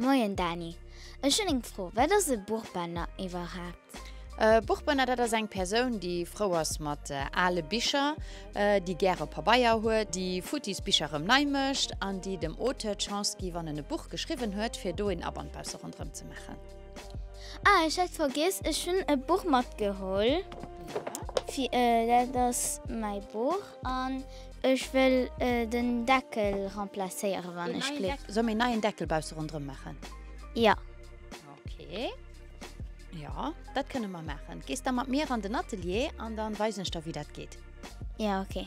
Moien Dani, ech hunn eng Fro, wat ass e Buchbënner iwwerhaapt? E Buchbënner, dat ass eng Persoun, déi frou ass mat ale Bicher, déi gäre Pabeier huet, déi futtis Bicher erëm nei mécht an déi dem Auteur d'Chance gi wann en e Buch geschriwwen huet, fir do een Aband bausse ronderëm ze maachen. Ah, ech hat vergiess, ech hunn e Buch matgeholl, dat ass mäi Buch an Ech wëll den Deckel remplacéieren wann ech Gléck hun. Solle mir en neien Deckel bausse rondrëm maachen? Jo. Ok. Jo, dat kënne mer maachen. Gees da mat mir an den Atelier an da weisen ech der wéi dat geet. Jo, ok.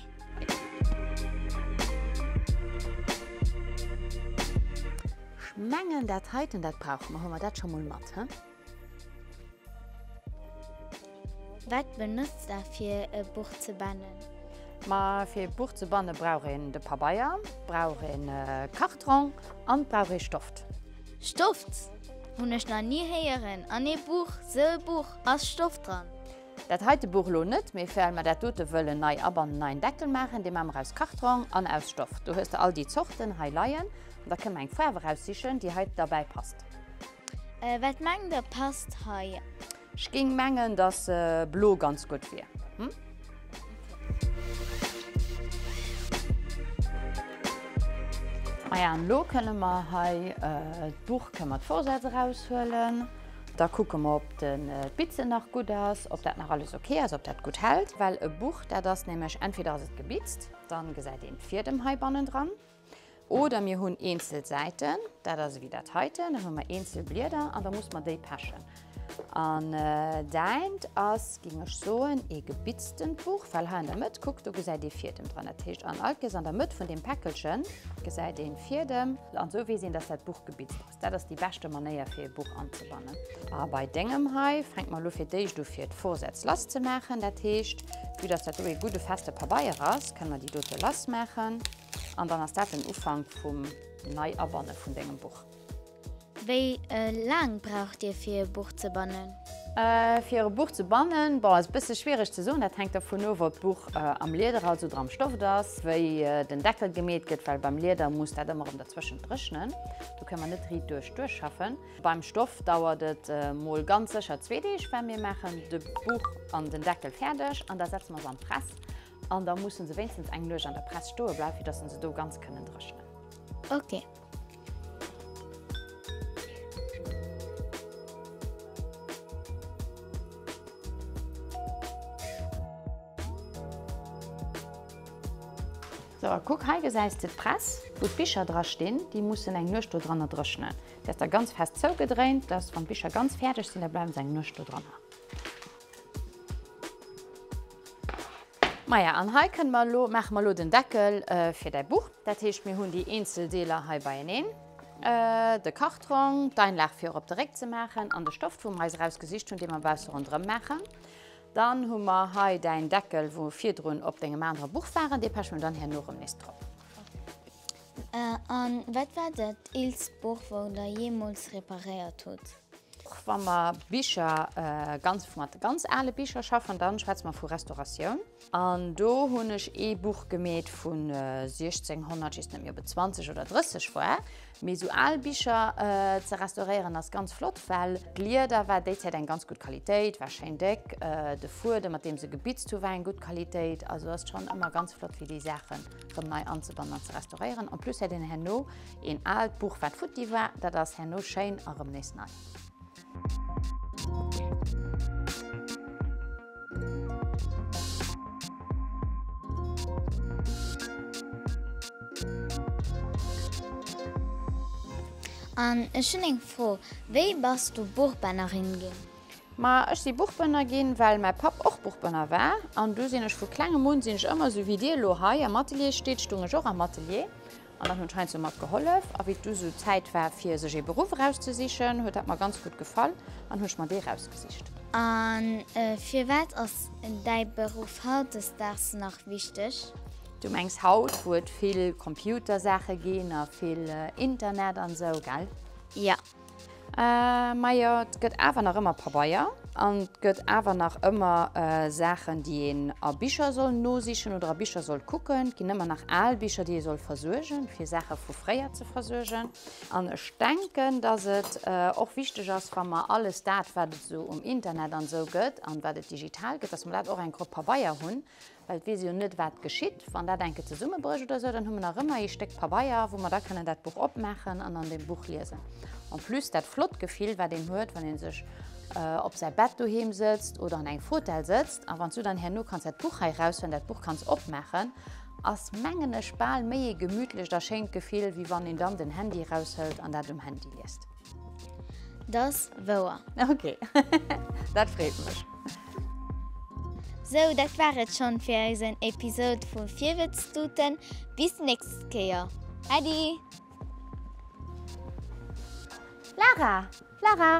Ech mengen dat heiten, dat brauche mer. Huele mer dat scho mol mat, hm. Wat benotzt der fir e Buch ze bannen? Ma fir e Buch ze banne brauch een de Pabeier, brauch een Kartrong an brauch ee Stoft. Stoft? Hunn ech nach ni héieren an ee Buch, sou e Buch, ass Stoft dran? Dat heite Buch lo net mee well mer dat dote wëllen nei abannen an neien Deckel maachen, dee maa mer aus Kartrong an aus Stoft. Do hues de all déi Zorten hei leien an da kënne mer eng Faarf eraussichen déi hei derbäi passt. Wat mengt der passt hei? Ech géing mengen dass blo ganz gutt wier. Maja an elo kënne mer hei d'Buch kënne mer d'Vorsätz eraushuelen. Da kucke mer ob de d'Bitzen nach gutt ass, ob dat nach alles ok ass, ob dat gutt hält. Well e Buch dat ass nämlech entweder ass et gebitzt, dann gesäit een d'Fiedem hei bannendran, Oder mir hunn eenzel Säiten, dat ass ewéi dat heiten, dann hu mer eenzel Blieder an da muss mer déi pechen. An däint ass, géing ech soen, ee gebitztent Buch, well hei an der Mëtt, kuckt, do gesäit ee Fiedem dran. Dat heescht, an all Kees an der Mëtt vun deem Päckelchen gesäit ee Fiedem. An esou weess een, dass dat Buch gebitzt ass. Dat ass déi beschte Manéier fir ee Buch anzebannen. A bei dengem hei, fänk mer elo fir d'éischt u fir d'Vorsätz lass ze maachen. Dat heescht, vue dass dat do ee gudde feste Pabeier ass, kënne mer déi dote lass maachen an dann ass dat den Ufank vum Nei-Abanne vun dengem Buch. Wéi laang braucht Dir fir ee Buch ze bannen? Fir e Buch ze bannen, bon, ass e bësse schwiereg ze soen. Dat hänkt dervun of, ob d'Buch am Lieder ass oder am Stoft ass, wéi den Deckel gemeet gëtt, well beim Lieder muss dat ëmmer rëm derzwëschent dréchnen, do kënne mer net riit duerch duerchschaffen. Beim Stoft dauert et mol ganz sécher zwee Deeg, well mir maachen de Buch an den Deckel fäerdeg an da setze mer se an d'Press an da musse se wéinstens eng Nuecht an der Press stoe bleiwen, fir datt se do ganz kënnen dréchnen. Ok, So, a kuck, hei gesäis de d'Press, wou d'Bicher dra stinn. Déi mussen eng Nuecht do dranner dréchnen. Déi ass da ganz fest zougedréint, dass, wann d'Bicher ganz fäerdeg sinn, da bleiwen se eng Nuecht do dranner. Maja, an hei kënne mer elo, maache mer elo den Deckel fir däi Buch. Dat heescht, mir hunn déi eenzel Deeler hei beieneen, de Kartrong, d'Einlag fir op de Réck ze maachen an de Stoft, wou mer eis erausgesicht hunn, dee mer bausse ronderëm maachen. Dann hu mer hei däin Deckel, wou mer virdrun op dengem anere Buch waren, dee peche mer dann herno erëm nees drop. A wat war dat eelst Buch, wat der jeemools reparéiert hutt? Wa mer Bicher ganz mat ganz ale Bicher schaffen, da schwätze mer vu Restauratioun. An do hunn ech ee Buch gemeet vu 1600, just net méi, ob et 20 oder 30 war. Mee esou al Bicher ze restauréieren ass ganz flott, well d'Lieder war déi Zäit eng ganz gutt Qualitéit, war schéin déck. De Fuedem, mat deem se gebitzt hu war eng gutt Qualitéit. Also ass schonn ëmmer ganz flott, fir déi Saache rëm nei anzebannen an ze restauréieren. En plus hätt een herno Een aalt Buch wat futti war, dat ass herno schéin a rëm nees nei. An ech hunn eng Fro, wéi bass du Buchbënnerin ginn? Ma ech si Buchbënner ginn, well mäi Papp och Buchbënner war. An du sinn ech vu klengem un, sinn ech ëmmer esou wéi dir elo hei am Atelier steet, stung ech och am Atelier. An dann hunn heinzo mat gehollef. A wéi et du sou Zäit war fir sech ee Beruff erauszesichen, huet dat mer ganz gutt gefall an hu ech mer dee rausgesicht. A firwat ass däi Beruff hautdesdaags nach wichteg? Du mengs haut, wou et vill Computersaache ginn a vill Internet an esou, gell? Jo. Majo, 't gëtt awer nach ëmmer Pabeier an 't gëtt awer nach ëmmer Saachen, déi een a Bicher soll nosichen oder a Bicher soll kucken. 't ginn ëmmer nach al Bicher, déi ee soll versuergen, fir Saache vu fréier ze versuergen. An ech denken, dass et och wichteg ass, wa mer alles dat, wat et esou um Internet an esou gëtt an wat et digital gëtt, dass mer dat och enk op Pabeier hunn, Well et weess ee jo net, wat geschitt, wann dat enke zesummebrécht oder esou. Dann hu mer nach ëmmer ee Stéck Pabeier, wou mer da kënnen dat Buch opmaachen an an deem Buch liesen. En plus dat flott Gefill, wat een huet, wann ee sech op säi Bett doheem sëtzt oder an engem Fotell sëtzt, a wann s du dann herno kanns dat Buch hei eraushuelen, dat Buch kanns opmaachen, ass, mengen ech, bal méi ee gemütlecht a schéint Gefill, wéi wann een dann den Handy eraushëlt an dat um Handy liest. Dass wouer. Ok, dat freet mech. Sou, dat war et schonn fir eisen Episode vu Virwëtztuten. Bis nächst Kéier. Äddi! Lara! Lara!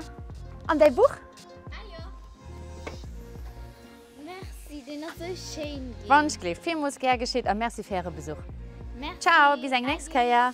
An däi Buch? Merci, deen ass sou schéin gin. Wandschgleef, villmools gär geschitt a merci fir äre Besuch. Ciao, bis eng nächst Kéier.